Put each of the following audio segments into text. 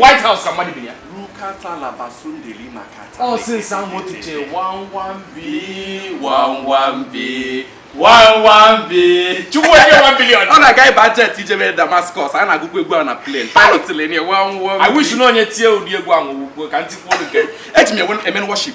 White House ka mmadụ bi ya rukata labasundeli makata ọ sị nsa motu je one one B one one B one one B chukwu enye one billion ọ na-aga ịba jet ijebe Damascus a na-agụkwa egwu a na plane pilot tinye one one B I wish na onye tie ụdị egwu ahụ ugbo ka m tikwuo nke eji m eme worship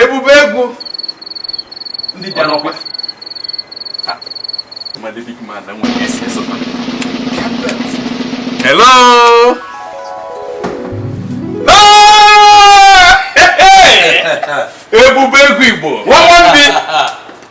ebube egwu ndị bịa n'ọkwa hello ebube egwu Igbo nwa nwa ndị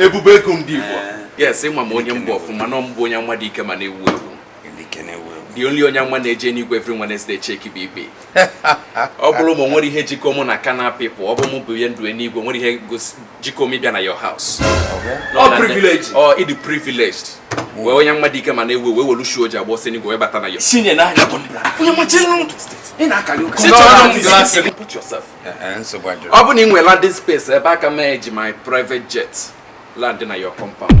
ebube egwu ndị Igbo eh. yes ị ma onye m bụ ọfụma na m bụ onye amụma dị ike ma na-ewu ewu the only onye amụma na-eje n'igwe every Wednesday check BB ọ bụrụ m nwere ihe jikọ mụ na carnal people ọ bụ mụ bụ ihe ndụ n'igwe nwere ihe jikọ m ịbịa na your house ọ privilege ọ ị dị privileged wee onye amụma dị ike ma na-ewu wee welu shoe o ji agba ọsọ n'igwe wee bata na your ọ bụ na ị nwere landing space ebe aka m eji my private jet land na your compound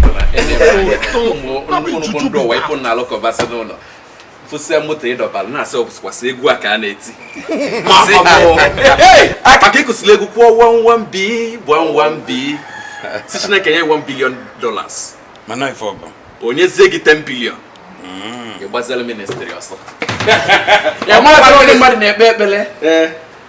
ụmụụmụ ndị ụwa ịpụ na alụkọbasị n'ụlọ fụsịa moto ịdọbara na-asị ọbụsịkwasị egwu a ka a na-eti maka ịkụsịla egwu kwuo one one B one one B sị chineke nye 1 billion dollars mana ife ọ bụ o nyezie gị 10 billion mm. ị gbazela ministry ọsọ ya mmadụ na-ekpe ekpere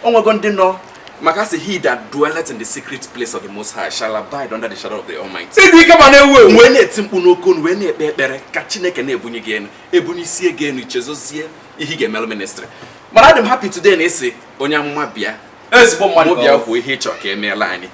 o nwego ndị nọ maka sị he that dwelleth in the secret place of the most high shall abide under the shadow of the almighty ịdị ike ma na-ewu ewu wee na-eti mkpu n'oke onu wee na-ekpe ekpere ka chineke na-ebunye gị enu ebunyesie gị enu i chezọzie ihe ị ga-emelụ ministry mana adị m happy today na ị sị onye amụma bịa ezigbo mmadụ bịa kwuo ihe ị chọrọ ka emeela anyị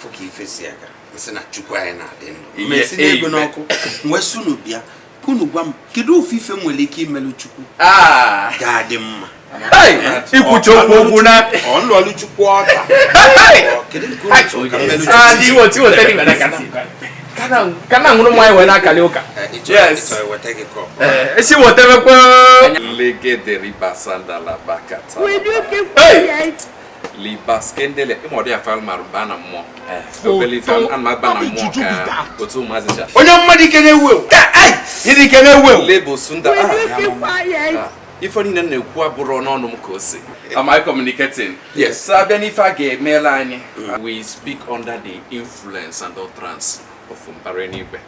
fụ ka ife si aga nsị na chukwu anyị na-adị ndụ m wee si n'ego n'ọkụ m wee sị unu bịa unu gwa m kedu ofu ife m nwere ike imelu chukwu ah! ga-adị mma ikwucha okwu okwu na ọnụọlụ chukwu ọka kedu nke unu chọrọ ka m melu chukwu kana nwụrụ nwa anyị wee na-akali ụka esi wetebekwa libaskendele ịmọdụ ya falmar baa na mmụọ eh. obele ife ana m aba na mmụọ ka otu ụmụazị cha onye amụma dị ike na-ewu ewu ịdị ike na-ewu ewu lebo sunda ah, ah. ife niile m na-ekwu abụrọ n'ọnụ m ka o si am I communicating? Yes. So a bịa n'ife a ga-emela anyị we speak under the influence and utterance of mbara n'igwe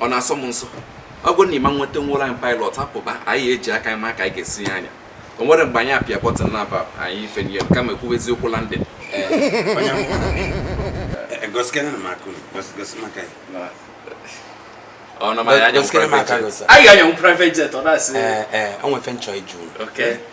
ọ na-asọ m nsọ ọ bụrụ na ị ma wete nwelụ anyị pilot apụba anyị eji aka ma ka anyị ga-esi ya anya o nwere mgbe anyị apịa button n'eba anyị efenie kama ekwuwe eziokwu landing ọ nọ ma ya anya private jet ọ na-asị o nwe ife m chọ ijụ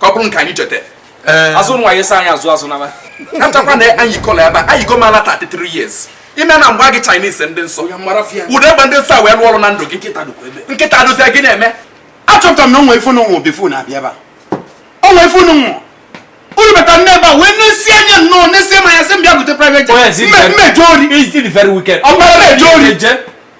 ka ọ bụrụ nke anyị cheta eh. azụ nwa ya esi anyị azụ azụ n'eba achakwa na anyị kọla ebe anyị go mala 33 years ime na mgbe gị Chinese ndị nsọ ụdị egbe ndị nsọ a wee lụọ ọrụ na ndụ gị nkịta dozie gị na-eme achọpụtara m na o nwe ife n'ụwa obefu na-abịa ebe a o nwe ife n'ụwa unu bata nne ebe a wee na-esi anya nnọọ na-esi ma ya sị m bịa gote private jet mmejọ ori ọgbara mejọ ori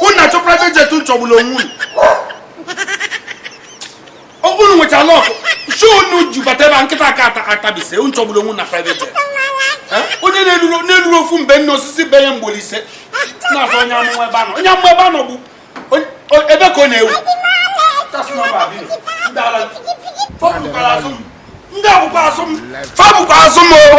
unu na-achọ private jet chọgburu onwe unu ọ bụrụ unu nwechara luck shoe unu ji bata ebe a nkịta aka ata atabise unu chọgburu onwe unu na private jet Eh? onye na-eruru na-eruru ofu mbe nna osisi be ya mgbe Olise na-azọ onye amụma ebe anọ onye amụma ebe anọ bụ onye- o- ebe ka ọ na-ewu fa bụkwara azụ m ndị a bụkwa azụ m fa bụkwa azụ m o